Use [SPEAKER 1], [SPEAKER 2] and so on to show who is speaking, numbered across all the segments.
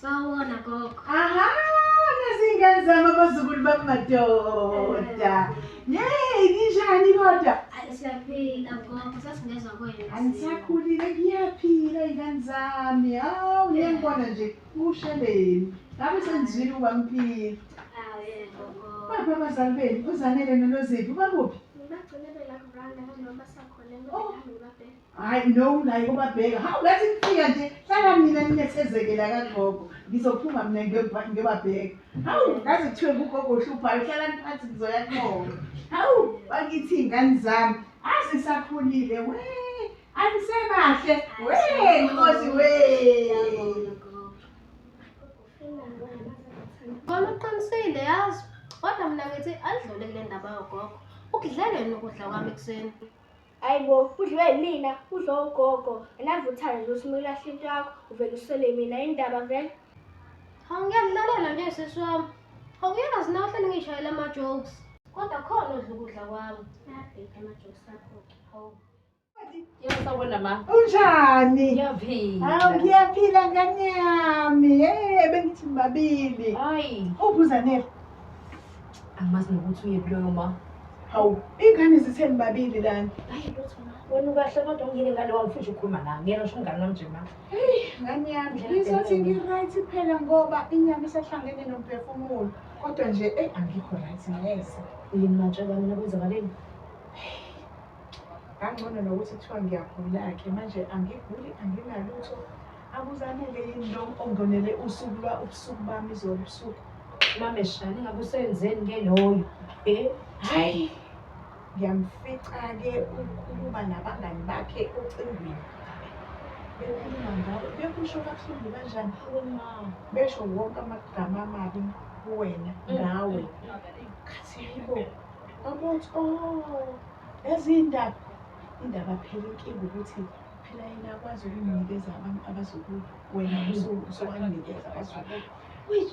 [SPEAKER 1] Sawona gogo. Aha,
[SPEAKER 2] nezingane zami abazukulu bami madoda. Yey, ninjani kodwa? Ay, Siyaphila gogo, sasingezwa kwenu.
[SPEAKER 1] Angisakhulile
[SPEAKER 2] kuyaphila izingane zami. Hawu, ngiyangibona nje usheleni. Ngabe sengizwile ukuba ngiphila.
[SPEAKER 1] Ah, yebo gogo. Baphi abazali benu? Uzanele noloziphi? Bakuphi?
[SPEAKER 2] Ngibagcine belakho randa noma sakhona Oh. ngibelakho
[SPEAKER 1] ngibabheke. hayi no naye
[SPEAKER 2] kubabheka hawu ngathi ngifika nje hlala mina ninethezekela kagogo ngizophuma mina ngiyoba- ngiyobabheka hawu ngaze kuthiwe ngugogo ohluphayo hlalani phansi ngizoya kubona hawu bakithi iy'ngane zami azisakhulile we angisebahle we nkosi we
[SPEAKER 1] Kona uqinisile yazi kodwa mina ngithi alidlule kule ndaba yogogo ukudlele yini ukudla kwami ekuseni Ayibo
[SPEAKER 3] udliwe yimina udlo ugogo anavuthayo nje usume ulahle into yakho uvele uswele mina indaba vele Hawu
[SPEAKER 1] ngiyamlalela nje sisi wami. Hawu uyazi nawe hlale ngishayela ama-jokes. Kodwa khona odla ukudla kwami. Ayabheda ama-jokes akho-ke. Hawu.
[SPEAKER 4] Yabona ma. Unjani?
[SPEAKER 2] Ngiyaphila. Hawu
[SPEAKER 4] ngiyaphila
[SPEAKER 2] ngane yami. Hey bengithi babili. Hayi. Uphi
[SPEAKER 4] uZanele? Angimazi nokuthi uyephi loyo ma. Hawu,
[SPEAKER 2] iy'ngane zitheni babili lana? Hayi lutho ma.
[SPEAKER 4] Wena ukahle kodwa ungile ngane wami futhi ukhuluma nami. Ngiyena usho umngane wami nje ma. Heyi, ngane yami,
[SPEAKER 2] ngizothi ngi-right phela ngoba inyama isahlangene nomphefumulo. Kodwa nje, eyi angikho right neze. Yini matshela
[SPEAKER 4] mina kwenzakaleni?
[SPEAKER 2] Kangcono nokuthi kuthiwa ngiyagula-ke manje angiguli anginalutho Akuzanele yini lo ongonele usuku lwa ubusuku bami izolo ubusuku. Mameshane
[SPEAKER 4] ngabe usenzeni ke loyo? Eh, hayi.
[SPEAKER 2] Ngiyamfica ke ukhuluma nabangani bakhe ocingweni. Bekhuluma ngawe, bekusho kabuhlungu kanjani? Uma besho wonke amagama amabi kuwena ngawe. Khathi yibo. Amuthi oh, ezindaba indaba phela inkinga ukuthi phela yena akwazi ukunikeza abantu abazukulu wena usuwanikeza abazukulu
[SPEAKER 4] which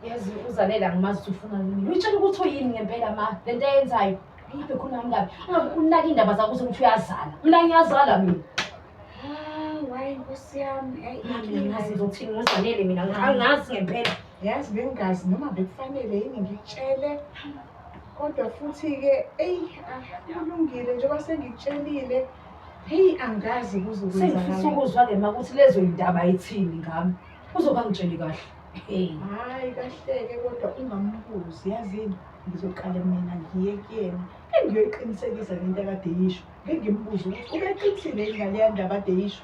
[SPEAKER 4] yazi uzalela ngimazi ukuthi ufuna yini uyitshela ukuthi uyini ngempela ma le nto ayenzayo ibe khona mngani ungabe unaki indaba zakho ukuthi uyazala mina ngiyazala mina hayi
[SPEAKER 3] nkosi yami ayingazi ngizothini
[SPEAKER 4] ngizanele mina angazi ngempela yazi bengazi
[SPEAKER 2] noma bekufanele yini ngikutshele kodwa futhi-ke eyi kulungile njengoba sengikutshelile ah, Heyi angazi Sengifisa
[SPEAKER 4] ukuzwa ke makuthi
[SPEAKER 2] lezo
[SPEAKER 4] yindaba ayithini ngami. Uzoba ngitsheli kahle. Hey. Hayi
[SPEAKER 2] kahleke kodwa ungambuzi yazini ngizoqala mina ngiye kuyena engiyoyiqinisekisa le nto akade yisho ngengimbuze ukuthi ubeqinisile yini ngaleya ndaba ade yisho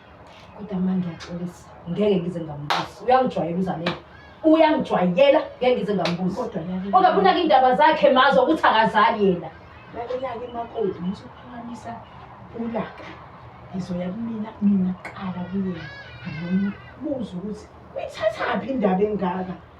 [SPEAKER 2] kodwa manje
[SPEAKER 4] ngiyaxolisa ngeke ngize ngambuzi uyangijwayela uzamele uyangijwayela ngeke ngize ngambuzi kodwa kodwa kunaka
[SPEAKER 2] indaba
[SPEAKER 4] zakhe mazo ukuthi akazali yena lakelake
[SPEAKER 2] imakoti muthi ukuphakamisa ulaka ngizoya kumina mina kuqala kuyena ngimbuza ukuthi uyithathaphi indaba engaka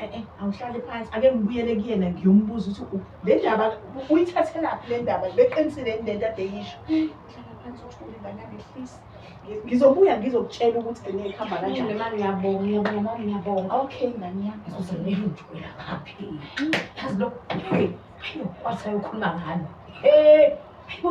[SPEAKER 4] Eh, eh,
[SPEAKER 2] awuhlale phansi ake ngibuyele kuyena ngiyombuza ukuthi le ndaba uyithathelaphi le ndaba beqinisile yini le nto ade yisho hlala phansi uthule nganakehlisi ngizobuya ngizokutshela ukuthi gcine ikuhamba kanjani mama ngiyabonga ngiyabonga
[SPEAKER 4] mama ngiyabonga okay ngani
[SPEAKER 2] yami uzomele ujwela
[SPEAKER 4] ngaphi yazi lo hey ayo wathi ayokhuluma ngani hey ayo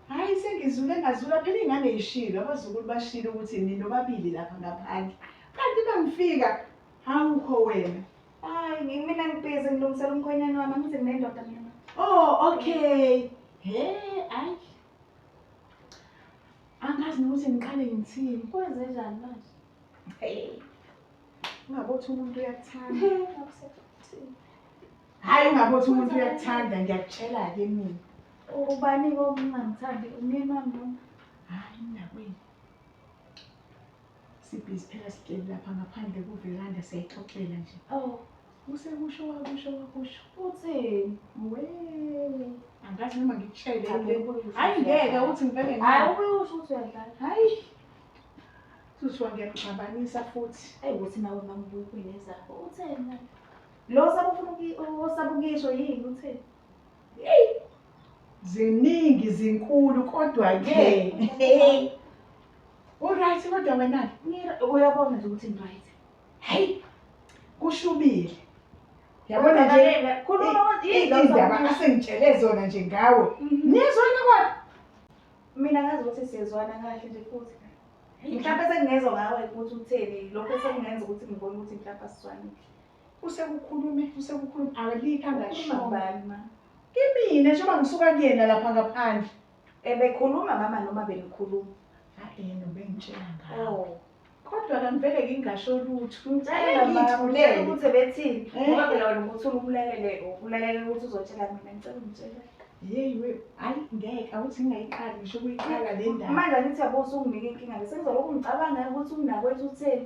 [SPEAKER 2] Hayi sengizule ngazula phela ingane ishilo abazukulu bashilo ukuthi nino babili lapha ngaphandle. Kanti bangifika awukho wena. Hayi ngimina
[SPEAKER 3] ngibhizi ngilungisela umkhwenyana wami angithi nginendoda mina. Oh okay.
[SPEAKER 2] He ayi. Angazi nokuthi ngiqale ngithini. Kwenze njani manje?
[SPEAKER 3] Hey.
[SPEAKER 2] Ungabothi umuntu uyakuthanda. Hayi ungabothi umuntu uyakuthanda ngiyakutshela ke mina.
[SPEAKER 3] Ubani kokungamthandi umyeni wami noma? Hayi
[SPEAKER 2] mnakwenu. Sibhizi phela sihleli lapha ngaphandle kuveranda siyayixoxela nje. Oh,
[SPEAKER 3] Usekusho
[SPEAKER 2] wakusho wakusho. uthini?
[SPEAKER 3] We.
[SPEAKER 2] Angazi noma ngikutshele. Cha, le- ubuye usho Hayi
[SPEAKER 3] ngeke
[SPEAKER 2] siyadlala.
[SPEAKER 3] uthi
[SPEAKER 2] ngivele Hayi ngaya. ubuye usho ukuthi
[SPEAKER 3] uyadlala. Hayi.
[SPEAKER 2] Suthiwa ngiyamxabanisa futhi. Eyi ukuthi nawe mamubuye
[SPEAKER 3] kuyinezakho. Utheni manje? Lo osabufuna uki- osaba ukuyisho yini uthini?
[SPEAKER 2] ziningi zinkulu kodwa-ke uright kodwa wena-ke Ngir- Uyabona nje
[SPEAKER 3] ukuthi ngiryt. hayi
[SPEAKER 2] kushubile yabona nje Uyabaleka. Khuluma i- ukuthi i- yini lo
[SPEAKER 3] izindaba osaba ukuyisho.
[SPEAKER 2] asengitshele zona nje ngawe Mhm. niyezwana kodwa Mina
[SPEAKER 3] ngazi ukuthi siyezwana kahle nje futhi. Mhlawumbe sengingezwa ngawe ukuthi utheni lokho sekungenza ukuthi ngibone ukuthi mhlawumbe asizwanile. Usekukhulume,
[SPEAKER 2] usekukhulume, alikho angashongo.
[SPEAKER 3] Kimina njengoba
[SPEAKER 2] ngisuka kuyena lapha ngaphandle. Ebekhuluma
[SPEAKER 3] mama noma benikhuluma? Hayi yena
[SPEAKER 2] ubengitshela ngawo. Oh. Kodwa
[SPEAKER 3] kangivele
[SPEAKER 2] ngingasho lutho. Ngicela ngithulela
[SPEAKER 3] ukuthi
[SPEAKER 2] ebethini.
[SPEAKER 3] Eh? Ngoba phela wena ukuthi ubulalele, ubulalele ukuthi uzotshela mina ngicela ungitshele. Yeyi we,
[SPEAKER 2] hayi ngeke awuthi ngingayiqali ngisho ukuyiqala le ndaba. Manje angithi yabo usunginika
[SPEAKER 3] inkinga ngisengizolokhu ngicabanga ukuthi umnakwethu utheni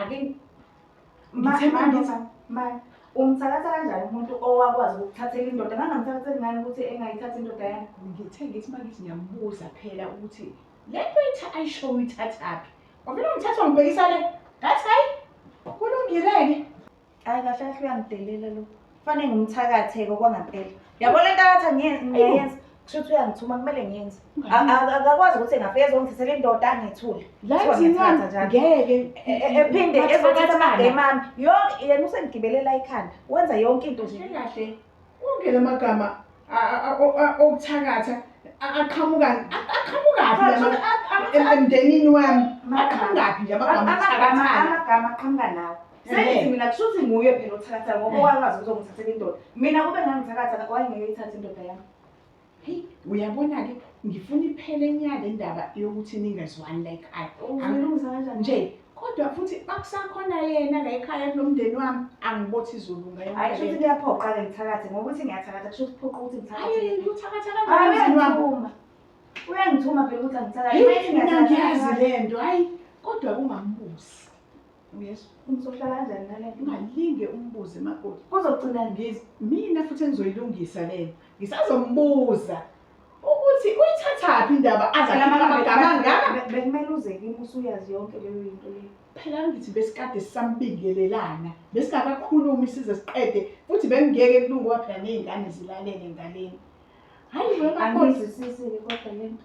[SPEAKER 3] Ake
[SPEAKER 2] ngithe manje
[SPEAKER 3] manje umthakatha kanjani umuntu owakwazi ukuthathela indoda ngangamthakatheli ngani ukuthi engayithatha indoda yami ngithe ngithi manje
[SPEAKER 2] ngiyamubuza phela ukuthi le nto itha ayisho uyithathaphi wavele ungithatha ungibhekisa le ngathi hayi kulungile-ke Hayi
[SPEAKER 3] kahle kahle uyangidelela lo. Fane ngimthakatheke okwangempela. Yabo le ntatha ngiyenza. Kusho ukuthi uyangithuma kumele ngiyenze. Akakwazi ukuthi engafika ezongithathela indoda angithule. La izincwadi
[SPEAKER 2] ngeke ephinde
[SPEAKER 3] ezothatha amagame ami. Yonke yena usengigibelela ikhanda. Wenza yonke into nje. Kahle kahle. Wonke
[SPEAKER 2] lamagama okuthakatha aqhamukani aqhamukaphi emndenini wami aqhamukaphi nje amagama okuthakatha amagama aqhamuka
[SPEAKER 3] nawo Sengithi mina kusho ukuthi nguye phela othakatha ngoba wakwazi ukuzongithathela indoda. Mina kube ngangithathakatha wayengeke ithathe indoda yami. Hey,
[SPEAKER 2] uyabona ke ngifuna iphele inyaka indaba yokuthi ningezwani la ekhaya. Uzolungisa kanjani? Nje
[SPEAKER 3] kodwa futhi
[SPEAKER 2] bakusakhona yena la ekhaya kulomndeni wami angibothi izulu ngayo. Hayi futhi kuyaphoqa
[SPEAKER 3] ke ngithakathe ngokuthi ngiyathakatha kusho ukuthi phoqa ukuthi ngithakathe. Hayi uthakatha kanjani
[SPEAKER 2] umndeni wami? Uyangithuma
[SPEAKER 3] phela ukuthi angithakathe. Ngiyazi
[SPEAKER 2] lento hayi kodwa kungambusi. Uyesu, umsohlala kanjani
[SPEAKER 3] nale nto? Ungalinge umbuze
[SPEAKER 2] makoti. Kuzogcina ngiz
[SPEAKER 3] mina futhi
[SPEAKER 2] engizoyilungisa lena. Ngisazombuza ukuthi uyithathaphi indaba azalamagama ngaka. Bekumele uze kimi
[SPEAKER 3] usuyazi yonke leyo yinto leyo. Phela ngithi besikade
[SPEAKER 2] sisambingelelana. Besingakakhulumi size siqede futhi bengeke kulungoba phela nezingane zilalele ngaleni. Hayi wena kodwa sisizile kodwa
[SPEAKER 3] lento.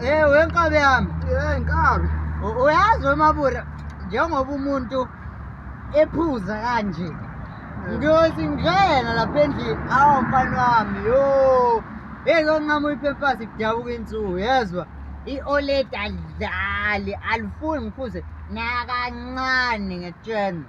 [SPEAKER 5] Eh wenkabi yami. Eh nkabi.
[SPEAKER 6] Uyazi
[SPEAKER 5] wemabura njengoba umuntu ephuza kanje. Ngiyothi ngena lapha endlini awu mfana wami yo. Hey konqamu iphepasi kudabuka insuku yezwa. I-OLED alidlali alifuni ngiphuze nakancane ngekutshena.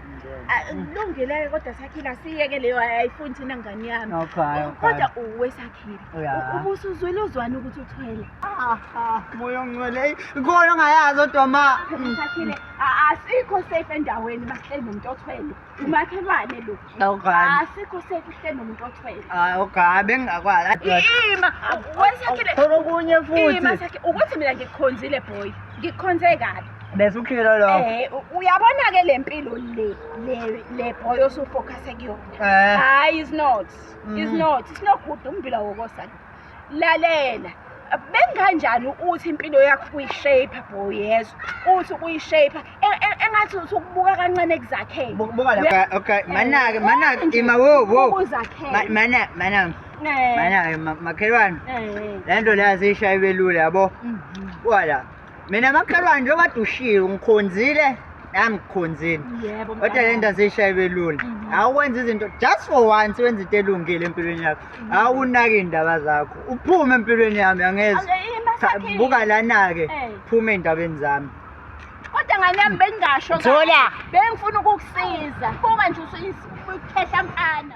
[SPEAKER 3] kulungile kodwa sakhile asiyeke leyo ayifuni thina ngane yami kodwa
[SPEAKER 5] uwe
[SPEAKER 3] sakhile ubuso
[SPEAKER 5] uzwele uzwani
[SPEAKER 3] ukuthi uthwele moya
[SPEAKER 5] ongcwele khona ongayazi odwa ma sakhile
[SPEAKER 3] asikho safe endaweni bahleli nomuntu othwele umakhelwane lo asikho
[SPEAKER 5] safe
[SPEAKER 3] uhleli nomuntu othwele hayi ogayi
[SPEAKER 5] bengingakwazi ima
[SPEAKER 3] wesakhile khona okunye
[SPEAKER 5] futhi ukuthi mina
[SPEAKER 3] ngikukhonzile boy ngikukhonze kabi bese ukhilo lo
[SPEAKER 5] eh uyabona ke
[SPEAKER 3] lempilo le le le boy osufocus kuyona eh. hayi is not mm. is not is not good umbila wokosana lalela benganjani uthi impilo yakho kuyishape boy yezo uthi kuyishape e, e, engathi uthi ukubuka kancane kuzakhela buka la okay
[SPEAKER 5] manake manake ima wo wo mana mana eh. mana makhelwane eh. lento leyazisha ibelule yabo mhm. wala mina makhelwane njengoba kade ushilo ngikhonzile nami ngikhonzile Yebo. kodwa mfana. le nto
[SPEAKER 3] aziyishayebe
[SPEAKER 5] lula Mhm. awukwenza izinto just for once wenza into elungile empilweni yakho awunaki iy'ndaba zakho uphume empilweni yami angeze Ake, ima Cha, sakhe. buka lana-ke Eh. phume ey'ndabeni zami Kodwa ngane
[SPEAKER 3] yami bengingasho. kahle. Zola. Bengifuna ukukusiza. Buka nje usuyikhehla mfana.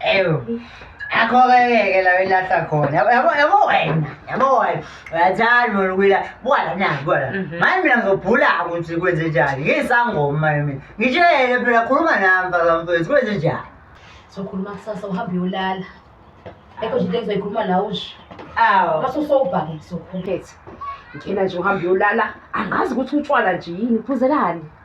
[SPEAKER 4] ewu
[SPEAKER 5] akhokeleke la ilahla khona yabo yabo yabo wena yabo wena uyathanda wena ukuyila bwala na bwala Mhm. manje mina ngizobhula ukuthi kwenze njani ngisangoma manje mina ngitshele phela khuluma nami mfana mfethu kwenze njani sokhuluma
[SPEAKER 4] kusasa uhambe uyolala ekho nje into engizoyikhuluma nawe nje awu mase
[SPEAKER 5] usowubhake
[SPEAKER 4] ngizokhuluma Phethe. Ngena nje uhambe uyolala. Angazi ukuthi utshwala nje yini, uphuzelani?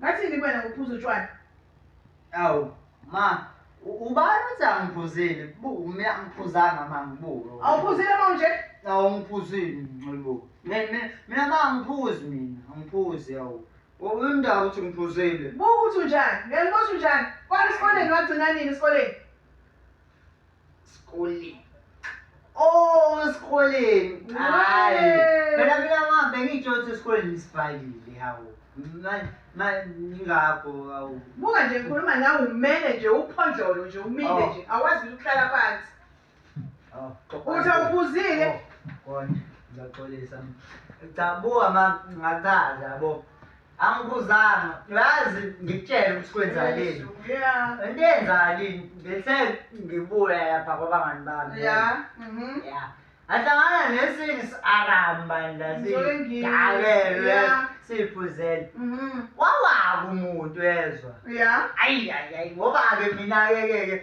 [SPEAKER 2] Ngathini kuwena ngokuphuza utshwala? Awu,
[SPEAKER 5] ma, ubani uthi angiphuzile? Buku, mina angiphuzanga ma ngibuke. Awuphuzile ma nje?
[SPEAKER 2] Awu ngiphuzile
[SPEAKER 5] nxibo. Mina mina ma angiphuzi mina, angiphuzi awu. Uyindawo uthi ngiphuzile. Buku uthi unjani?
[SPEAKER 2] Ngeke ngiboshe unjani? Kwani esikoleni wagcina nini esikoleni?
[SPEAKER 5] Skoleni. Oh, esikoleni. Hayi. Wee. Phela mina mama bengitsho ukuthi esikoleni nisivalile hawu. Ma- ma- Ngingakho hawu. Buka nje ngikhuluma nawe
[SPEAKER 2] umele nje uphondlolo nje umile Oh. nje awazi ukuthi uhlala phansi. Oh, Uthi awubuzile. Oh, Kodwa
[SPEAKER 5] ngiyaxolisa. Cha buka mama ngachaza yabo. angibuzanga uyazi ngikutshele ukuthi kwenzakaleni into
[SPEAKER 2] eyenzakalini
[SPEAKER 5] ngithe ngibuya lapha kwabangani bami ya mhm. ahlangana nesinye si-aramba ndasidakelwe siyiphuzele mhm. wawaku umuntu ezwa ayi
[SPEAKER 2] ayi ayi ngoba-ke
[SPEAKER 5] mina-kekeke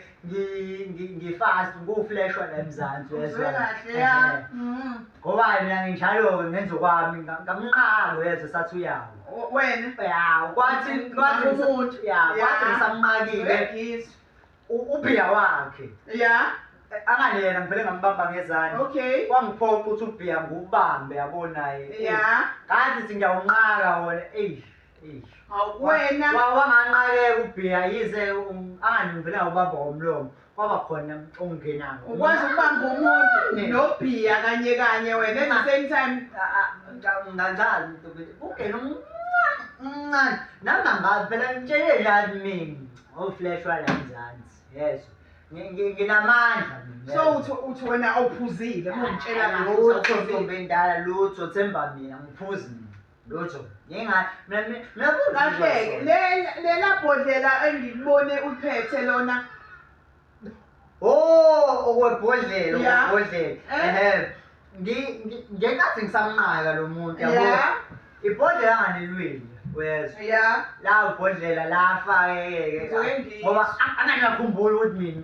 [SPEAKER 5] ngifast ngufleshwa la emzansi uyezwa kahle ya
[SPEAKER 2] mhm. ngoba mina
[SPEAKER 5] nginjalo ngenza okwami ngamnqalo yezwa sathi uyawo wena ya
[SPEAKER 2] kwathi
[SPEAKER 5] kwathi umuntu ya
[SPEAKER 2] kwathi
[SPEAKER 5] ngisamnqakile
[SPEAKER 2] ubhiya
[SPEAKER 5] wakhe ya
[SPEAKER 2] angani yena
[SPEAKER 5] ngivele ngambamba ngezandla okay kwangiphoqa
[SPEAKER 2] ukuthi ubhiya
[SPEAKER 5] ngubambe yabo naye ya ngathi
[SPEAKER 2] ngiyawunqaka
[SPEAKER 5] wona eyi wena
[SPEAKER 2] wawanganqakeka ubhiya
[SPEAKER 5] yize um, anganivela ubamba ngomlomo kwaba khona ongenayo ukwazi ukubamba
[SPEAKER 2] umuntu nobhiya kanye kanye wena at the same time
[SPEAKER 5] nganjalo ungena umncane nangangazi phela ngitshele lani mina oflash wala mzansi yezwa nginamandla so uthi uthi wena
[SPEAKER 2] awuphuzile mongitshela ngalo uthi awuphuzile indala
[SPEAKER 5] lutho themba mina ngiphuzi mina lutho ngingahleki
[SPEAKER 2] lela bhodlela engikubone uphethe lona o oh,
[SPEAKER 5] okwebhodlela okwebhodlela
[SPEAKER 2] eh? ehe
[SPEAKER 5] ngenkathi ngisamnqaka lo muntu yabo
[SPEAKER 2] ibhodlela
[SPEAKER 5] anganilwile wezwa ya la
[SPEAKER 2] ubhodlela
[SPEAKER 5] lafa yeke ngoba angakakhumbuli ukuthi mina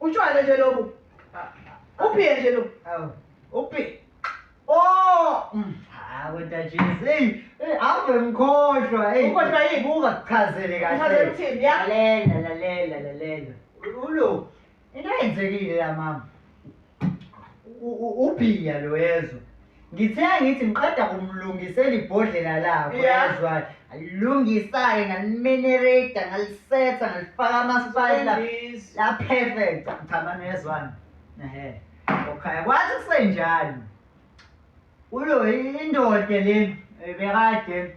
[SPEAKER 5] Utshwala nje
[SPEAKER 2] lobu. Uphiye nje lo. Awu. Uphi.
[SPEAKER 5] Oh! Mm. Hawu ntajisi. Hey, hey ave mkhohlwa. Hey. Ukhohlwa yini buka?
[SPEAKER 2] Chazele kahle.
[SPEAKER 5] Chazele uthini ya? Lalela,
[SPEAKER 2] lalela,
[SPEAKER 5] lalela. Ulo. Into yenzekile la mama. Uphiya lo yezwa. Ngithe ngithi ngiqeda kumlungisela ibhodlela lakho Yeah. yazwani. Ngalilungisa-ke ngalimenereta ngalisetha ngalifaka ama-spice la- Wendiza. la perfect. Cha mani yazwani. Ehe. Okay, kwathi kusenjalo. Ulo indoda lena eh, bekade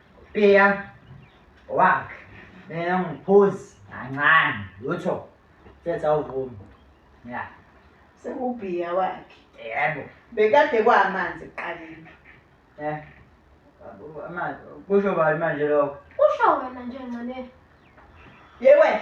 [SPEAKER 5] Pia wak mina ngiphuzi kancane lutho thetha uvume ya sekubhiya
[SPEAKER 2] wakhe yebo bekade kwamanzi
[SPEAKER 5] kuqaleni
[SPEAKER 2] eh
[SPEAKER 5] amanzi kusho bani manje lokho usho wena nje
[SPEAKER 1] ncane
[SPEAKER 2] yewe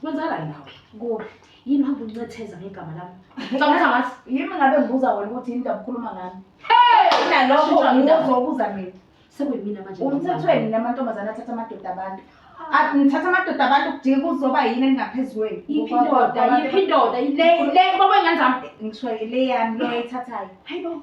[SPEAKER 3] Kwenzakalani
[SPEAKER 4] nawe? Kuhle. Yini
[SPEAKER 3] hamba uncetheza
[SPEAKER 4] ngegama lami? Ngicabanga ukuthi angazi. Yimi ngabe ngibuza wena
[SPEAKER 3] ukuthi yini ndaba ukhuluma ngami. Kunalokho
[SPEAKER 4] Shintshwa indaba.
[SPEAKER 3] ngizobuza
[SPEAKER 4] mina.
[SPEAKER 3] Sekuyimina manje.
[SPEAKER 4] Umthethweni namantombazane
[SPEAKER 3] athatha amadoda abantu. A- Nithatha amadoda abantu kudinga kuzoba yini engaphezu kwenu. Yiphi indoda?
[SPEAKER 4] Yiphi indoda? Yile le baba ingane zami. Ngisho le yami
[SPEAKER 3] le oyithathayo. Hayibo.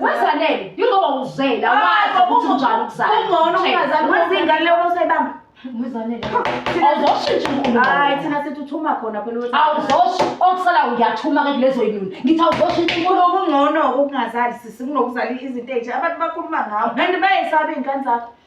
[SPEAKER 3] Wazanele, yingoba
[SPEAKER 4] uzela wazi ukuthi unjani ukuzala. Ungcono ungazali wazi
[SPEAKER 3] ingane leyo usayibamba. Wazanele.
[SPEAKER 4] Awuzoshintsha inkulumo. Hayi thina sithi uthuma
[SPEAKER 3] khona phela ukuthi awuzoshi okusala
[SPEAKER 4] uyathuma ke kulezo yinuni. Ngithi awuzoshintsha inkulumo. Kungcono ukungazali
[SPEAKER 3] sisi kunokuzala izinto ezinje abantu bakhuluma ngawo. Kanti bayesaba ingane zakho.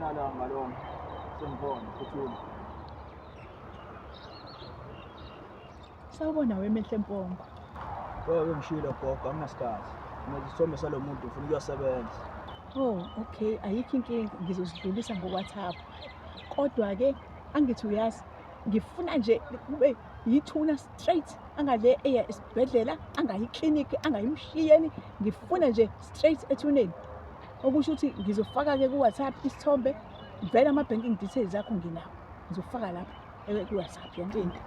[SPEAKER 6] Lala ngalong sembon kuthul.
[SPEAKER 7] Sawubona wemehle mpongo. Wewe
[SPEAKER 6] ngishilo gogo anginasikhathi. Ngizisome salomuntu ufuna ukuyosebenza. Oh,
[SPEAKER 7] okay, ayikho inkinga ngizozidlulisa ngo WhatsApp. Kodwa ke angithi uyazi ngifuna nje kube yithuna straight angale eya esibhedlela angayi clinic angayimshiyeni ngifuna nje straight ethuneni okusho ukuthi ngizofaka-ke ku-whatsapp isithombe vele ama-banking details akho nginawo ngizofaka lapho eh, ku-whatsapp yantinti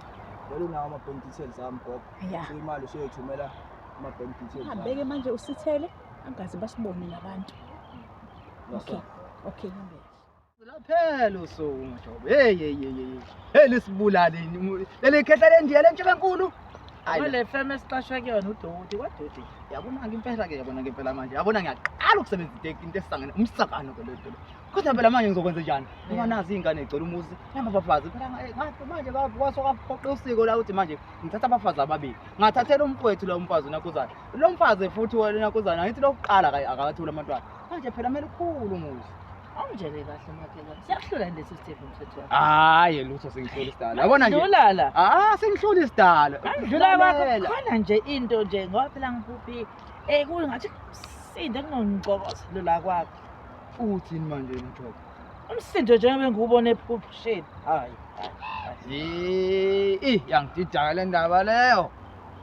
[SPEAKER 7] vele unawo ama-bank
[SPEAKER 6] details ami gogo ya so imali
[SPEAKER 7] useyothumela
[SPEAKER 6] ama-bank details ami. hambeke manje usithele
[SPEAKER 7] angaze basibone nabantu okay okay hambeke Laphela
[SPEAKER 6] usuku mjobo. Hey hey hey hey. Hey lisibulaleni. Leli khehla lendiya lentshe kankulu. Wale feme
[SPEAKER 8] siqashwe kuyona udoti kwadoti. Yabona ke impela
[SPEAKER 6] ke yabona ke impela manje. Yabona ngiyaqala ukusebenzisa iteki into esangene umsakano ke lento. Kodwa phela manje ngizokwenza njani? Ngoba nazi ingane egcela umuzi. Namba bafazi phela ngathi manje kwaso kaphoqa usiko la ukuthi manje ngithatha abafazi ababili. Ngathathela umfowethu lo mfazi nakuzana. Lo mfazi futhi wena nakuzana ngithi lokuqala akathula amantwana. Manje phela mele ukhulu umuzi. Awungitshele kahle
[SPEAKER 8] makhelwane. Siyakuhlula lesi Steve umthetho wakho. Hayi lutho
[SPEAKER 6] sengihloli sidala. Yabona nje. Dlula la. Ah sengihloli
[SPEAKER 8] sidala.
[SPEAKER 6] Angidlula kwakho Lalela.
[SPEAKER 8] khona nje into nje ngoba phela ngikuphi eh kungathi sinde kunongicokoselo la kwakho. Uthini
[SPEAKER 6] manje mthoko? Umsindo nje
[SPEAKER 8] ngabe ngiwubona ephusheni. Hayi.
[SPEAKER 6] Eh, yangididaka le ndaba leyo.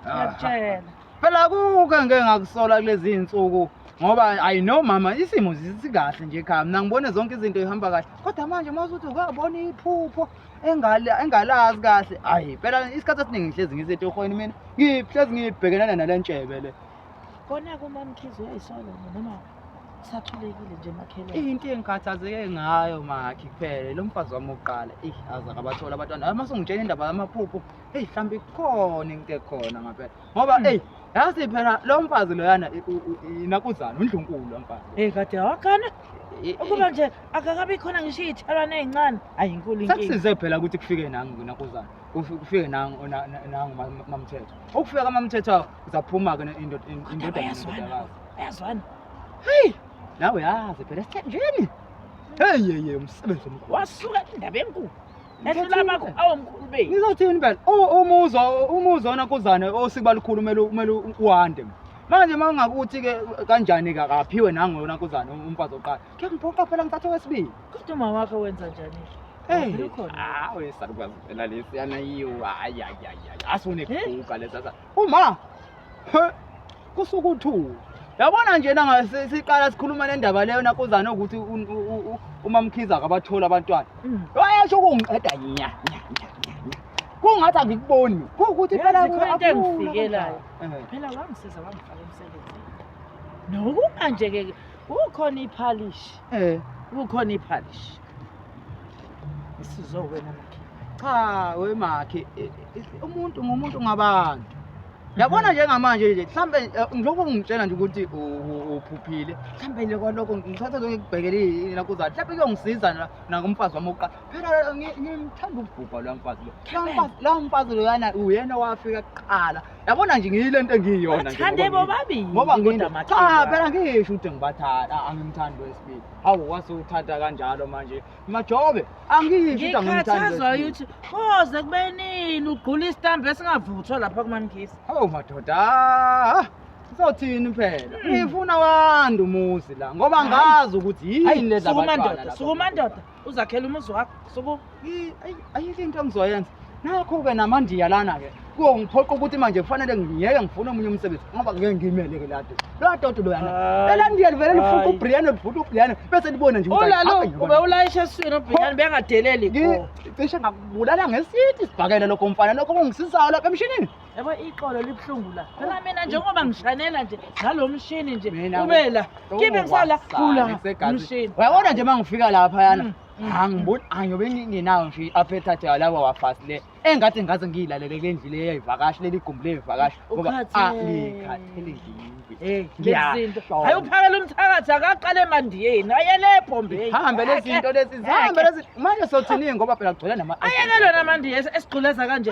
[SPEAKER 6] Ah. Ngiyakutshela.
[SPEAKER 8] phela
[SPEAKER 6] kuke ngeke ngakusola kulezi iy'nsuku ngoba ayi no mama isimo sikahle nje ekhaya mina ngibone zonke izinto zihamba kahle kodwa manje uma usuthi ukabona iphupho engalazi kahle ayi phela isikhathi esiningi ngihlezi ngisetohweni mina ngihlezi ngibhekelana nale ntshebe le kona
[SPEAKER 8] kumamkhizi uyayisola noma sathulekile nje makhelwane into engikhathazeke
[SPEAKER 6] ngayo makhi kuphele lo mfazi wami wokuqala eyi aze akabatholi abantwana uma sungitshela indaba yamaphupho eyi mhlawumbe ikhona into ekhona ngampela ngoba hmm. eyi yazi phela lo mfazi loyana inakuzana undlunkulu lo mfazi eyi kade wakhana
[SPEAKER 8] ukuba nje akakabi khona ngisho iy'thalwane ey'ncane ayi inkulu inkinga sekusize phela ukuthi kufike
[SPEAKER 6] nangu kunakuzana kufike nangu nangu mamthetho ukufika kamamthetho uzaphuma-ke indodana ayazwana
[SPEAKER 8] heyi
[SPEAKER 6] nawe yazi phela esithenjeni heyeye umsebenzi omkhulu wasuka indaba enkulu
[SPEAKER 8] ngizothini phela
[SPEAKER 6] umuzwa umuzwa ona kuzane osiba likhulu kumele kumele uwande manje uma ungakuthi ke kanjani ka kaphiwe nangona kuzane umfazi oqala ke ngiphoqa phela ngithathe wesibili kodwa uma wakhe wenza
[SPEAKER 8] njani Hey, ah, we salukazi
[SPEAKER 6] phela lesiyana yiwa. Hayi hayi hayi. Asune kuka lesasa. Uma kusuke uthuli yabona nje siqala sikhuluma le ndaba leyo nakuzane ukuthi umamkhiza akabatholi abantwana mm. wayesho ukungiqeda nya kungathi angikuboni kuwukuthi phela into engifikelayo eh. phela wangisiza wangifaka
[SPEAKER 8] emsebenzini nokuba nje-ke kukhona iphalishi eh. kukhona iphalishi Isizo wena makhe. Cha we
[SPEAKER 6] makhe eh, eh, umuntu ngumuntu ngabantu. Yabona njengamanje nje mhlambe eh, ngilokho ngitshela nje ukuthi uphuphile. Mhlambe le kwalokho ngithatha zonke ngibhekele yena kuza. Mhlambe kuyongisiza na nakumfazi wami oqa. Phela ngimthanda ukubhubha lo mfazi lo. Lo mfazi lo yana uyena wafika kuqala. Yabona nje ngiyile nto engiyiyona nje. Bathande bobabili. Ngoba
[SPEAKER 8] nginda maxa.
[SPEAKER 6] Cha phela ngisho ukuthi ngibathanda angimthandi wesibili. Hawu wase uthatha kanjalo manje. Majobe angisho ukuthi angimthandi. Ngikhathazwa ukuthi koze
[SPEAKER 8] kube nini ugqula isitambu esingavuthwa lapha kumankisi. Hawu madoda.
[SPEAKER 6] Sothini phela? Hmm. Ngifuna wanda umuzi la ngoba ngazi ukuthi yini leza bantwana. Sukuma ndoda, sukuma ndoda.
[SPEAKER 8] uzakhela umuzi wakho suku ayike
[SPEAKER 6] into engizoyenza nakho-ke namandiya lana-ke kuyongiphoqa ukuthi manje kufanele ngiyeke ngifune omunye umsebenzi ngoba ngeke ngiyimele-ke lado lowa doti loyana elandiya livele lifuqa ubriane lifuqa ubriane bese libone nje ube ulayisha
[SPEAKER 8] eswini ubriane bengadeleli cishe
[SPEAKER 6] ngakubulala ngesithi sibhakele lokho mfana lokho kungisisayo lapha emshinini yabo iqolo
[SPEAKER 8] libuhlungu la phela mina njengoba ngishanela nje ngalo mshini nje ube la kibe ngisala khula umshini uyabona nje uma ngifika
[SPEAKER 6] lapha yana mm, mm. angiboni angiyobe ngingenawo nje i-appetite yalaba wafasi le engathi ngaze ngiyilalele kule ndlu le yayivakashi leli gumbi leyivakashi ngoba alikhathele ngizinto hayi
[SPEAKER 8] uphakela umthakathi akaqale emandiyeni ayele ebhombeni hambe lezi zinto lezi
[SPEAKER 6] zihambe lezi manje sothini ngoba phela kugcwele nama ayeke lona amandiya
[SPEAKER 8] esigquleza kanje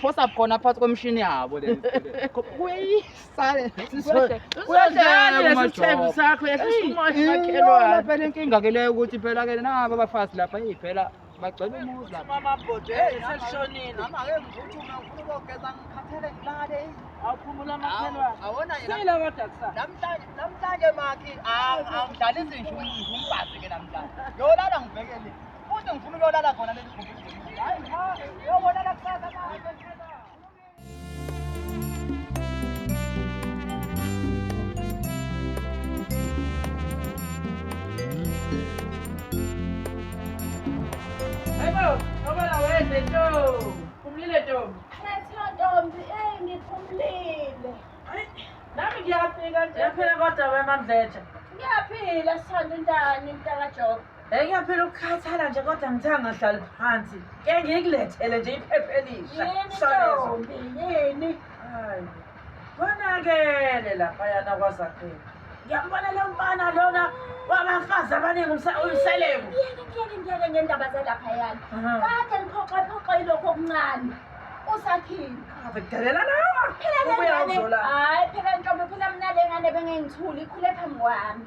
[SPEAKER 6] phosa khona phakathi kwemishini yabo
[SPEAKER 8] le phela
[SPEAKER 6] inkinga ke leyo ukuthi
[SPEAKER 8] phela
[SPEAKER 6] ke nabo abafazi lapha eyi phela bagcwele
[SPEAKER 5] umuzi
[SPEAKER 8] lapha namhlanje
[SPEAKER 5] makhi angidlalisi nje umfazi ke namhlanje yolala ngibhekele Futhi ngifuna uyolala khona
[SPEAKER 8] leli gumbi. Hayi cha, uyolala kusasa manje. Umlile Ntombi. Khetha Ntombi,
[SPEAKER 3] eyi ngiphumlile.
[SPEAKER 8] Nami ngiyafika nje. Yaphela kodwa wemamdletsha. Ngiyaphila
[SPEAKER 3] sithanda intani mntaka Jobe. Hey ngiyaphela
[SPEAKER 8] ukukhathala nje kodwa ngithe angahlali phansi. Ke ngikulethele nje iphepha elisha.
[SPEAKER 3] Yini
[SPEAKER 8] ntombi yini? Hayi. Konakele lapha yana kwazakhela. Ngiyambona lo mfana lona wabafazi abaningi umseleku. Ngiyeke ngiyeke ngiyeke
[SPEAKER 3] ngendaba zalapha yana. Kade liphoxe phoxe ilokho okuncane. Usakhile. Abedelela
[SPEAKER 8] lawa. Phela lengane. Hayi phela ntombi
[SPEAKER 3] phela mina lengane bengengithuli ikhule phambi kwami.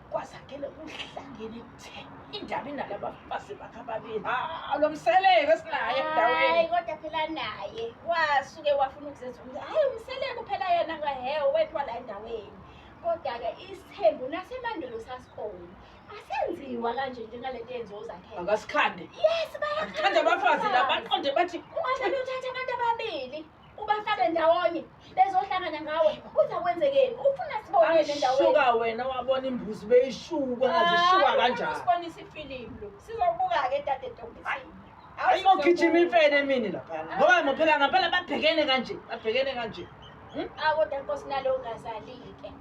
[SPEAKER 8] kwazakele kuhlangene kuthe indaba inalaba bafazi bakhe ababili hawu lo mseleko esinaye endaweni hayi kodwa phela
[SPEAKER 3] naye wasuke wafuna ukuzenza ukuthi hhayi umseleko phela yena ngahehe wethwa la endaweni kodwa-ke isithembu nasemandulo sasikhona asenziwa kanje njengale nto yenziwa uzakhele akasikhande yes
[SPEAKER 8] bayakhanda
[SPEAKER 3] abafazi
[SPEAKER 8] la baqonde bathi kufanele uthathe abantu
[SPEAKER 3] ababili ubafake ndawonye bezohlangana ngawe uthi akwenzekeni ufuna sibonele ndawonye shuka wena wabona
[SPEAKER 8] imbuzi beyishuka ngathi shuka kanjani usibonisa ifilimu
[SPEAKER 3] lo sizobuka ke dade ntombisini ayingogijima
[SPEAKER 8] imfene emini lapha ngoba ngophela ngampela babhekene kanje babhekene kanje hmm? akodwa
[SPEAKER 3] nkosi nalo ungazalike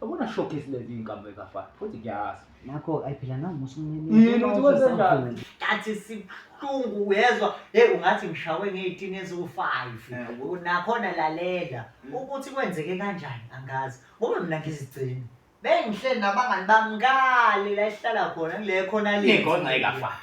[SPEAKER 9] Yabona shock esilenza inkambo ekafana. Futhi ngiyazi. Nakho ayiphila nami
[SPEAKER 5] musumini. Yini ukuthi kwenze
[SPEAKER 9] njani? Ngathi
[SPEAKER 5] sibuhlungu uyezwa. Hey ungathi ngishawe ngeyitini eziwu-5. Eh, Nakhona lalela hmm. ukuthi kwenzeke kanjani angazi. Ngoba mina ngizigcina. Bengihleli nabangani bami ngale la esihlala khona ngile khona le. Ingozi ayikafani.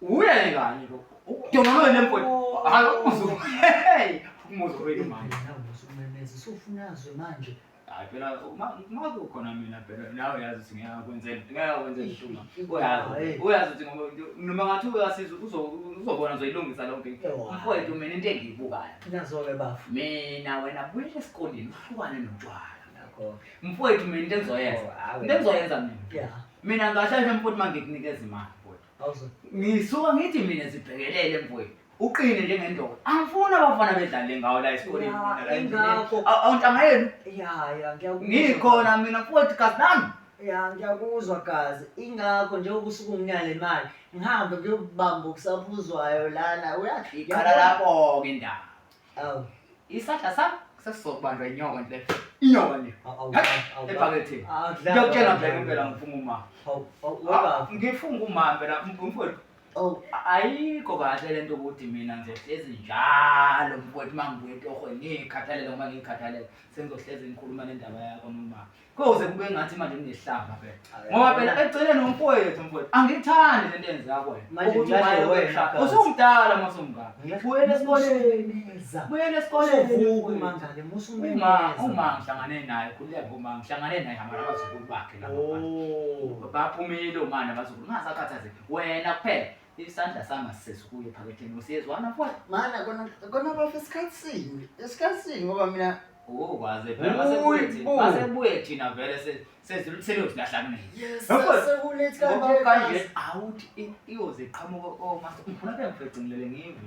[SPEAKER 9] Uyeni ngani lo? Udonolo wena mfowethu. Oh. Hayi umuzwa. Hey, umuzwa wena manje. Nawe usumemeza usufunazwe
[SPEAKER 5] manje.
[SPEAKER 9] Hayi phela uma kukhona mina phela nawe uyazi ukuthi ngeke akwenzele ngeke akwenzele shuma uyazi uyazi ukuthi ngoba noma ngathi uyasiza uzobona uzoyilungisa lonke mfowethu mina into engiyibukayo nazo-ke bafo
[SPEAKER 5] mina wena
[SPEAKER 9] buyela esikoleni uhlukane notshwala mfowethu mina into engizoyenza into engizoyenza mina Mina ngasheshe mfowethu mangikunikeza imali mfowethu. Awuze. Ngisuka ngithi mina zibhekelele mfowethu. Uqine njengendoda. Angifuni abafana bedlale ngawo la esikoleni. Ya, mina la endleleni. ingakho. Aw- Awuntanga yenu. Ya, ya, ngiyakuzwa.
[SPEAKER 5] Ngikhona mina mfowethu
[SPEAKER 9] kazi nami. Ya, ngiyakuzwa
[SPEAKER 5] gazi. Ingakho njengoba usuke unginika le mali, ngihambe ngiyokubamba okusaphuzwayo lana. Uyafika. Qala lapho-ke
[SPEAKER 9] indaba. Awu.
[SPEAKER 5] Isandla
[SPEAKER 9] sam sesizokubanjwa inyoka nje. Inyoka nje. Ebhakethini. Ngiyokutshela ngibheke impela ngifunga uma. Awu. Ngifunga uma phela mfowethu. Oh, ayikho kahle lento ukuthi mina ngizohlezi njalo mfowethu uma ngibuya etohweni ngiyikhathalela uma ngiyikhathalela sengizohlezi ngikhuluma nendaba yakho noma koze kube ngathi manje ngihlamba phela ngoba phela eceleni umfowethu mfowethu angithandi le nto yenza yakho wena ukuthi umaye wena usumdala uma usumngaka buyela esikoleni buyela esikoleni uvuke mangane musa
[SPEAKER 5] uma uma
[SPEAKER 9] ngihlangane naye khuleka ngoma ngihlangane naye hamba nabazukulu bakhe lapha oh. baphumile umana abazukulu ngasakhathaze wena kuphela isandla sami asisesikuyo ephaketheni usiyezwana futhi mana kona
[SPEAKER 5] kona bafo isikhathi sini isikhathi sini ngoba mina Oh, waze phela
[SPEAKER 9] masebuye Uyi, thina. bo. Masebuye thina vele se- sezilithele ukuthi lahlangene. yes Yabona? sekulethi Ngoba kanje kanje awuthi i- iyoze iqhamuka oh mase ngifuna ke ngifecingilele ngive.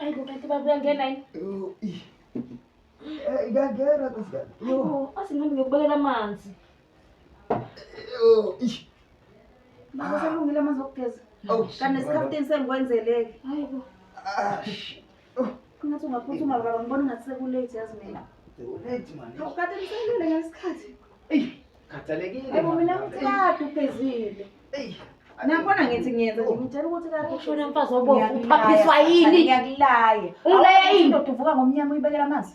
[SPEAKER 4] Ayibo kanti baba uyangena yini?
[SPEAKER 2] Ngiyangena nkosikazi. Ayibo asingihambe
[SPEAKER 4] ngiyokubekela amanzi.
[SPEAKER 3] Baba usalungile amanzi okugeza. Kanti nesikhafteni sengikwenzeleke. Ayibo.
[SPEAKER 4] Oh,
[SPEAKER 3] ngathi ungaphuthuma baba ngibona ngathi sekulate yazi mina. Sekulate manje.
[SPEAKER 2] Ukade ngiselele
[SPEAKER 3] ngesikhathi. Ey,
[SPEAKER 2] khathalekile. Ebo mina ngithi
[SPEAKER 3] kade ugezile. Ey. Nakhona ngithi ngiyenza nje ngitshela ukuthi kade ushona mfazi obovu
[SPEAKER 4] uphaphiswa yini? Ngiyakulaye.
[SPEAKER 3] Ungilaya yini? Udoda
[SPEAKER 4] uvuka ngomnyama uyibekela
[SPEAKER 3] amanzi.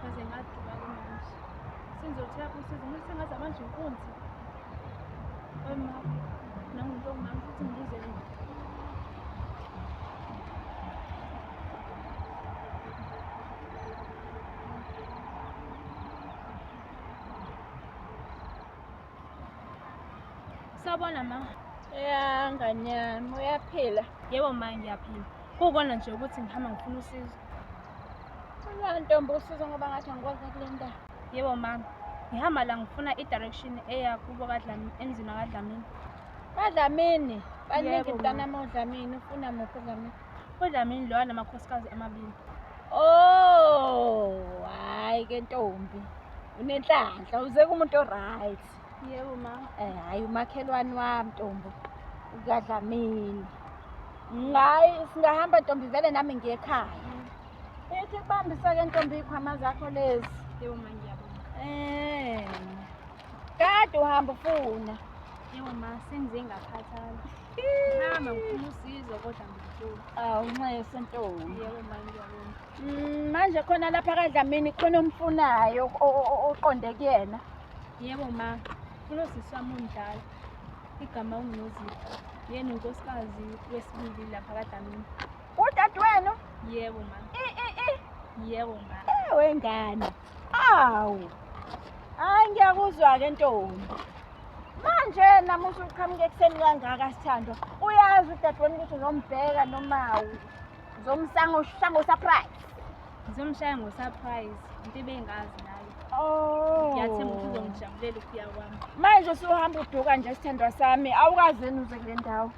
[SPEAKER 9] Kaze
[SPEAKER 10] ngaduka ke manje. Sengizothela usizo ngoba sengaze manje inkunzi. Wema nangumuntu ongami futhi ngize mina. Sawubona ma. Ya ngane
[SPEAKER 3] yami uyaphila? Yebo ma ngiyaphila.
[SPEAKER 10] Kukona nje ukuthi ngihamba ngifuna usizo.
[SPEAKER 3] Ula ntombi usizo ngoba ngathi angikwazi kule ndawo. Yebo mama.
[SPEAKER 10] Ngihamba la ngifuna i-direction eya kubo kaDlamini emzini kaDlamini. KaDlamini?
[SPEAKER 3] Baningi mntanami oDlamini ufuna muphi uDlamini? UDlamini lowa
[SPEAKER 10] namakhosikazi amabili. Oh,
[SPEAKER 3] hayi ke ntombi. Unenhlanhla uze kumuntu oright. Yebo ma.
[SPEAKER 10] Eh hayi umakhelwane
[SPEAKER 3] wami Ntombo. Ukadlamini. Ngayi singahamba Ntombi vele nami ngiye ekhaya. Ethi kubambisa ke Ntombi ikhwama zakho lezi. Yebo ma ngiyabonga.
[SPEAKER 10] Eh.
[SPEAKER 3] Kade uhamba ufuna. Yebo ma
[SPEAKER 10] sengize ngakhathala. Hamba ngifuna usizo kodwa ngifuna. Awu nxese
[SPEAKER 3] Ntombi. Yebo ma ngiyabonga.
[SPEAKER 10] Mm, manje khona lapha
[SPEAKER 3] kaDlamini khona omfunayo o- o- o- oqonde kuyena. Yebo ma,
[SPEAKER 10] kulo sisi wami omdala. Igama unguNozipho. Yena unkosikazi wesibili lapha kaDlamini. Udade wenu?
[SPEAKER 3] Yebo ma. I
[SPEAKER 10] i i. Yebo ma. Ewe ngane.
[SPEAKER 3] Awu. Hayi ngiyakuzwa ke ntombi. Manje namuhla uqhamuke ekuseni kangaka sithandwa. Uyazi udade wenu ukuthi uzombheka noma Ngizomshaya ngoshaya ngosurprise. Ngizomshaya
[SPEAKER 10] ngosurprise. Into ebengazi nayo. Oh.
[SPEAKER 3] Ngiyathemba ukuthi
[SPEAKER 10] uzongijabulela ukuya kwami. Manje usuhamba
[SPEAKER 3] uduka nje sithandwa sami. Awukaze nuze kule ndawo.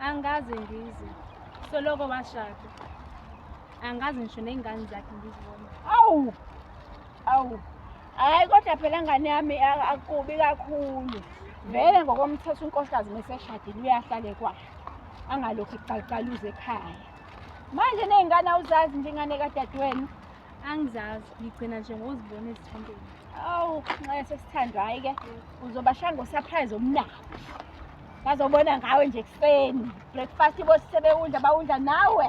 [SPEAKER 3] Angikaze
[SPEAKER 10] ngize. Soloko washada. Angikaze ngisho nezingane zakhe ngizibona. Awu.
[SPEAKER 3] Awu. Hayi kodwa phela ngane yami akubi kakhulu. Vele ngokomthetho unkosikazi meseshadile uyahlale kwayo. Angalokhu ekuqaluza ekhaya. Manje nezingane awuzazi nje ingane kadadewenu? Angizazi,
[SPEAKER 10] ngigcina nje ngokuzibona ezithandweni. Awu, nxese
[SPEAKER 3] sesithandwa hayi ke. Uzobashanga usurprise omnandi. Bazobona ngawe nje ekuseni. Breakfast bosise bewudla bawudla nawe.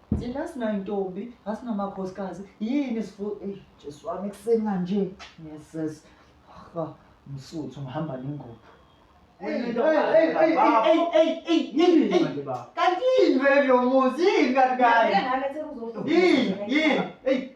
[SPEAKER 5] Thina sinayintombi, asinamakhosikazi, yini sifu eyi Jesu wami ekuseni kanje. Yeses. Ha, msuthu ngihamba nengubo. Kanti yini vele lo muzi yini kanti kanye? Yini yini? Eyi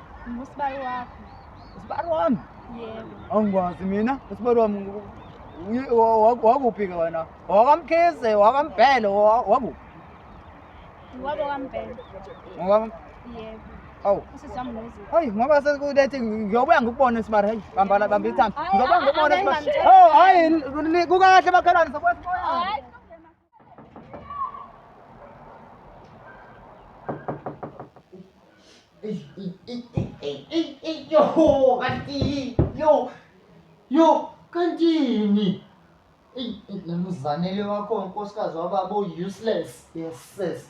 [SPEAKER 6] Ngusibari
[SPEAKER 10] wakho. Usibari wami?
[SPEAKER 6] Yebo. Angikwazi mina, usibari wami wakuphi-ke wena? Wakamkhize, wakambhele, wakuphi? Wabo kambhele.
[SPEAKER 10] Ngoba?
[SPEAKER 6] Yebo.
[SPEAKER 10] Awu.
[SPEAKER 6] Hayi
[SPEAKER 10] ngoba sekulethi
[SPEAKER 6] ngiyobuya ngikubone Sibari hayi bambala bamba ithambo. Ngizobuya ngikubone Sibari. Oh hayi
[SPEAKER 10] kukahle
[SPEAKER 6] bakhalani sokwesimoya.
[SPEAKER 5] Yo, kanti yo yo kantini namzanele wakho nkosikazi wababa useless yes sis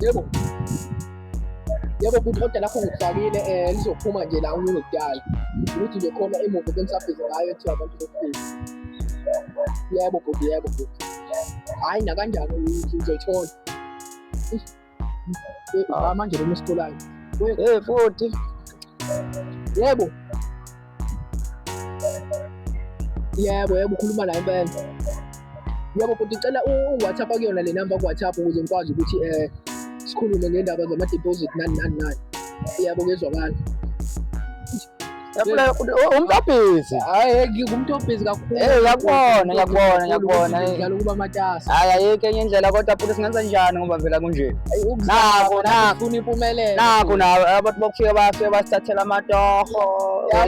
[SPEAKER 6] Yebo. Yebo kuqoda lapho ngifakile eh lizophuma nje la umuntu ngidala. Ukuthi nje khona imoto bengisabhiza ngayo ethi abantu bokufika. Yebo bhuti yebo bhuti. Hayi nakanjani uzoyithola. Ah. manje lona esitolayo hey futhi yebo yebo yebo ukhuluma la impela yebo futhi cela u-whatsapp akuyona le namba ku-whatsapp ukuze ngikwazi ukuthi um sikhulume ngendaba zama-deposit nani nani nani yebo kuyezwakala
[SPEAKER 8] umuntu obhizi hayi umuntu
[SPEAKER 6] obhizi kakhulu eh yakubona yakubona yakubona
[SPEAKER 8] ngidlala ukuba matasa
[SPEAKER 6] hayi ayike enye indlela
[SPEAKER 8] kodwa futhi singenza njani ngoba vela kunje nakho nakho
[SPEAKER 6] ufuna impumelelo nakho nawe abantu
[SPEAKER 8] bokufika bafike basithathela amatoho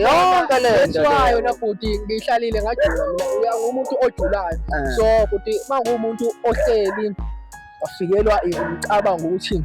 [SPEAKER 8] yonke le nto wayo na futhi
[SPEAKER 6] ngihlalile ngajula mina uyangumuntu ojulayo eh. so futhi mangumuntu ohleli afikelwa imicabango ukuthi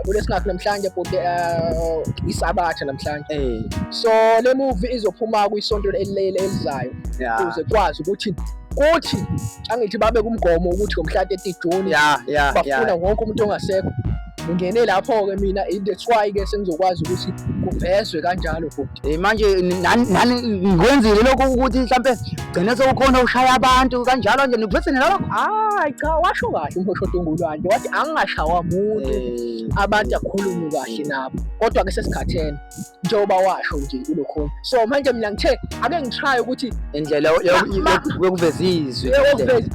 [SPEAKER 6] Abule singakho namhlanje bhuti uh, isabatha namhlanje. Eh. So le movie izophuma kwisonto elilele elizayo ukuze kwazi ukuthi kuthi angithi babe kumgomo ukuthi ngomhla 30 June yeah, yeah, bafuna yeah. wonke umuntu ongasekho ngingene lapho-ke mina that's why-ke sengizokwazi ukuthi kuvezwe kanjalo bhuti Eh, manje
[SPEAKER 8] nani ngikwenzile lokho ukuthi mhlampe gcine sewukhona ushaya abantu kanjalo nje niphethe nalokho hayi cha washo
[SPEAKER 6] kahle umhoshodo ongulwandle wathi angingashawa muntu eh. abantu akhulume kahle nabo kodwa-ke sesikhathele njengoba washo nje kulokhona so manje mina ngithe ake ngishaye ukuthi indlela
[SPEAKER 8] yokuveza izwi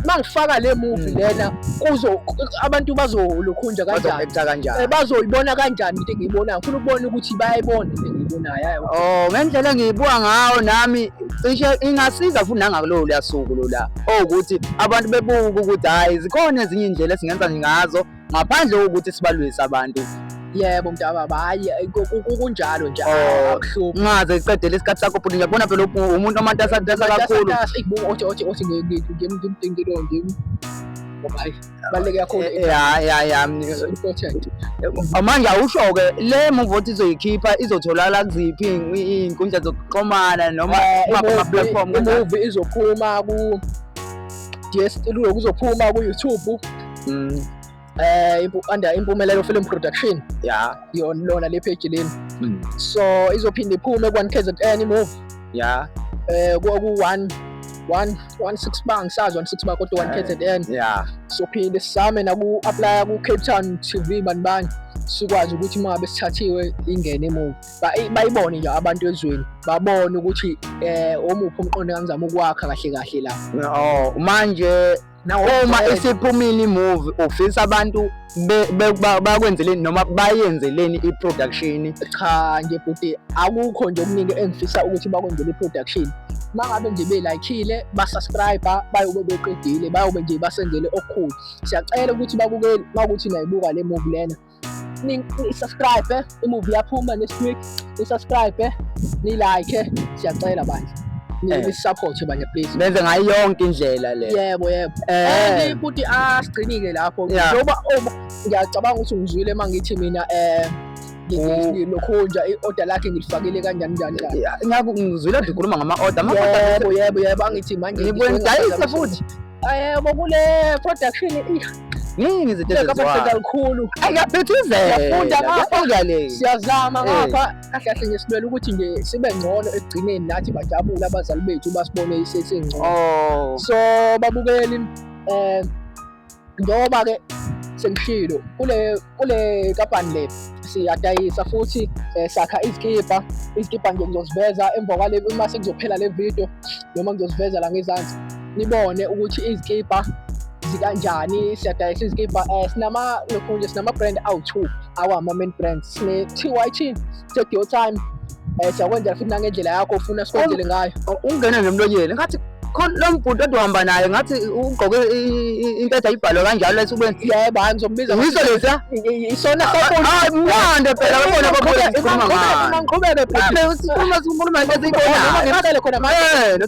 [SPEAKER 8] uma ngifaka
[SPEAKER 6] le movie hmm. lena kuzo abantu bazolokhunja kanjani eh, bazoyibona kanjani into engiyibonayo ngifuna ukubona ukuthi bayayibona Oh, ngendlela
[SPEAKER 8] engiyibuka ngawo nami cishe ingasiza futhi nangakulowo luyasuku lola owukuthi abantu bebuke ukuthi hhayi zikhona ezinye iy'ndlela esingenza ngazo ngaphandle kokuthi sibalwise abantu yebo mntababa
[SPEAKER 6] hhayi eh, kunjalo nje oh, akuhluphi ungaze
[SPEAKER 8] iqedele isikhathi sakho bhuti ngiyakubona phela umuntu omatasa
[SPEAKER 6] kakhulu
[SPEAKER 8] othi
[SPEAKER 6] othi othi
[SPEAKER 8] ngimdingile
[SPEAKER 6] ngim
[SPEAKER 8] ngoba
[SPEAKER 6] hayi baleke yakho eh, eh, ya ya ya
[SPEAKER 9] important
[SPEAKER 6] manje
[SPEAKER 9] awusho ke le move othi izoyikhipha izotholakala kuziphi izinkundla zokuxhumana noma eh, ama platform move izophuma
[SPEAKER 6] ku DSTV kuzophuma ku YouTube mm. eh under impumelelo film production ya yona
[SPEAKER 9] lona le page
[SPEAKER 6] leni mm. so izophinde iphume kwa KZN move ya
[SPEAKER 9] eh ku 1 1 16
[SPEAKER 6] bar ngisazi 16 bar kodwa 1 KZN ya sophinde
[SPEAKER 9] sisame
[SPEAKER 6] naku apply ku Cape Town TV banibani sikwazi ukuthi uma ngabe sithathiwe ingene emuva bayibone nje abantu ezweni babone ukuthi eh omuphi umqondo engizama ukwakha kahle kahle la oh manje
[SPEAKER 9] uma isiphumile imuvi ufisa abantu bakwenzeleni noma bayenzeleni i-production cha nje
[SPEAKER 6] bhuti akukho nje okuningi engifisa ukuthi bakwenzele i-production uma ngabe nje belayikhile basubscribe bayobe beqedile bayobe nje basenzele okukhulu siyacela ukuthi babukeli uma ukuthi nayibuka le movie lena nisubscribe eh? imuvi yaphuma next week nisubscribe eh? nilike eh? siyacela bandla nisupporte bandla please benze ngayo yonke
[SPEAKER 9] indlela le yebo yebo and
[SPEAKER 6] futhi asigcinile lapho njengoba ngiyacabanga ukuthi ngizwile uma ngithi mina eh ngilokhunja i-order lakhe ngilifakile kanjani njani ngiyakuzwile
[SPEAKER 9] ngikhuluma ngama-order yebo yebo yebo
[SPEAKER 6] angithi manje ngikwenza futhi
[SPEAKER 9] Ayebo kule
[SPEAKER 6] production Yini
[SPEAKER 9] izinto ezenziwa kakhulu.
[SPEAKER 6] Ayaphithizela.
[SPEAKER 9] Yafunda ngapha le.
[SPEAKER 6] Siyazama eh. ngapha kahle kahle nje sibele ukuthi nje sibe ngcono ekugcineni nathi bajabule abazali bethu basibone isesingcono. Oh. So babukeli eh njengoba ke sengishilo kule kule kampani le siyadayisa futhi eh, sakha izikipa izikipa nje ngizoziveza emva kwale uma sekuzophela le video noma ngizoziveza la ngezansi nibone ukuthi izikibha zikanjani siyadayisa izikibha um eh, sinama lokhu nje sinama-brand awu-two awama-main brand sine-t y t sedio time um siyakwenzela futhi nangendlela yakho ufuna sikwenzele ngayo oh, ungena nje emlonyeni
[SPEAKER 9] ngathi khona lo mbhuti oduhamba naye ngathi ugqoke impetha ibhalwe kanjalo esubeni yebo hayi ngizombiza
[SPEAKER 6] yiso lesa
[SPEAKER 9] isona hayi mnande phela
[SPEAKER 6] babona babona sikhuluma
[SPEAKER 9] ngani sikhuluma sikhuluma ngezikona ngibale khona manje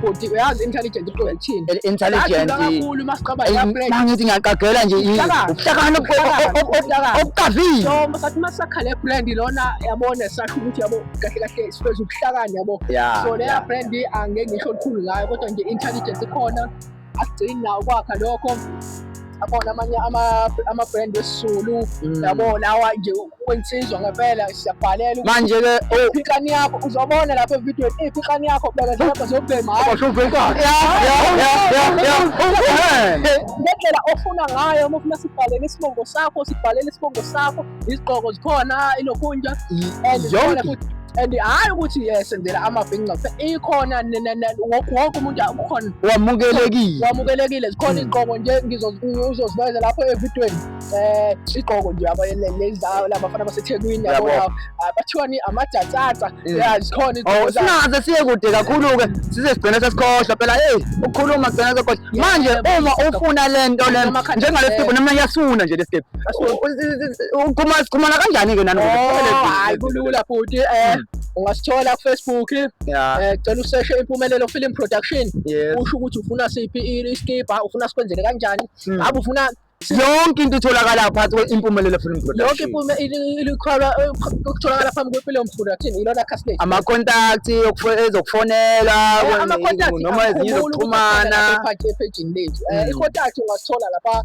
[SPEAKER 6] bhuti uyazi intelligent uqoka ekuthini intelligent kakhulu
[SPEAKER 9] uma siqaba
[SPEAKER 6] ya break mangithi ngiyaqagela nje
[SPEAKER 9] ubuhlakani obuqavile so sathi uma
[SPEAKER 6] sakhale brand lona yabona sasho ukuthi yabo kahle kahle sifeza ubuhlakani yabo so leya brand angeke ngisho lukhulu ngayo kodwa nje intelligent ikhona akugcini nawo kwakha lokho abona amanye ama-brand wesizulu mm. yabo lawa nje kwensizwa ngempela siyabhalela manje ke oh.
[SPEAKER 9] iphikani yakho
[SPEAKER 6] uzobona lapha evidweni iphikani yakho bekezela lapha zobhema ngendlela ofuna ngayo uma ufuna sibhalele isibongo sakho sibhalele isibongo sakho iziqoko zikhona ilokhunja and zikhona futhi and hhayi ukuthi yesenzela amabhinca ikhona wonke umuntu ukhona wamukelekile wamukelekile zikhona hmm. iziqoko nje ngizozibeza lapho evidweni um iziqoko nje abalenzayo labafana basethekwini yabona ah, bathiwani amajatsatsa hmm. ya zikhona oh, singaze siye kude
[SPEAKER 9] kakhulu-ke size sigcine sesikhohlwa phela eyi ukukhuluma gcina sekhohlwa manje uma ufuna le nto le njengale sibho noma yasifuna nje le sibho kumana kanjani-ke nanohayi
[SPEAKER 6] kulula futhi um ungasithola kufacebook um eh, cela useshe impumelelo film production usho ukuthi ufuna siphi iskibha ufuna sikwenzele kanjani hmm. ngabe ufuna yonke into
[SPEAKER 9] itholakala phakathi kwe-impumelelo film yonke
[SPEAKER 6] ikhwalwa eh, kutholakala phambi kwempilo mphulathini yilona khasile amakontakthi
[SPEAKER 9] ezokufonela eh, noma ezinye zokuxhumana ephejini lethu
[SPEAKER 6] um ikontakthi ungasithola lapha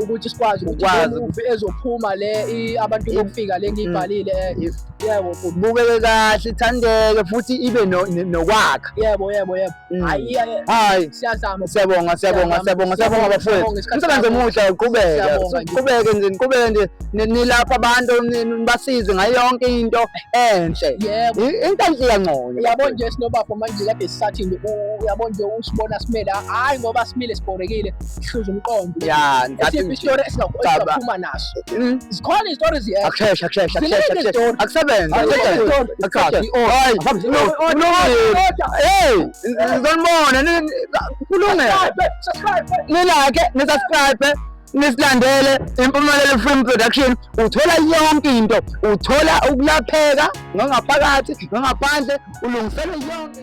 [SPEAKER 6] ukuthi sikwazi ukwazi ukuthi ezophuma le abantu bokufika le ngiyibhalile mm. eh, yebo kubukeke kahle
[SPEAKER 9] ithandeke futhi ibe nokwakha yebo yebo yebo
[SPEAKER 6] mm. hayi
[SPEAKER 9] hayi siyazama
[SPEAKER 6] siyabonga siyabonga
[SPEAKER 9] siyabonga siyabonga bafowethu umsebenzi omuhle uqhubeke uqhubeke nje uqhubeke nje nilapha abantu basizwe ngayo yonke into enhle yebo into
[SPEAKER 6] enhle iyangcono
[SPEAKER 9] yabo nje sinobapho
[SPEAKER 6] manje kade sisathi uyabo nje usibona simele hayi ngoba simile sibhorekile sihluza umqondo ya esiphi story
[SPEAKER 9] esingakhuluma naso hmm? zikhona izitori ziyekho akusheshe akusheshe akusheshe akusebenze ngizonibona kulungele nilake nisubscribe nisilandele impumelelo film production uthola yonke into uthola ukulapheka ngangaphakathi ngangaphandle ulungisele yonke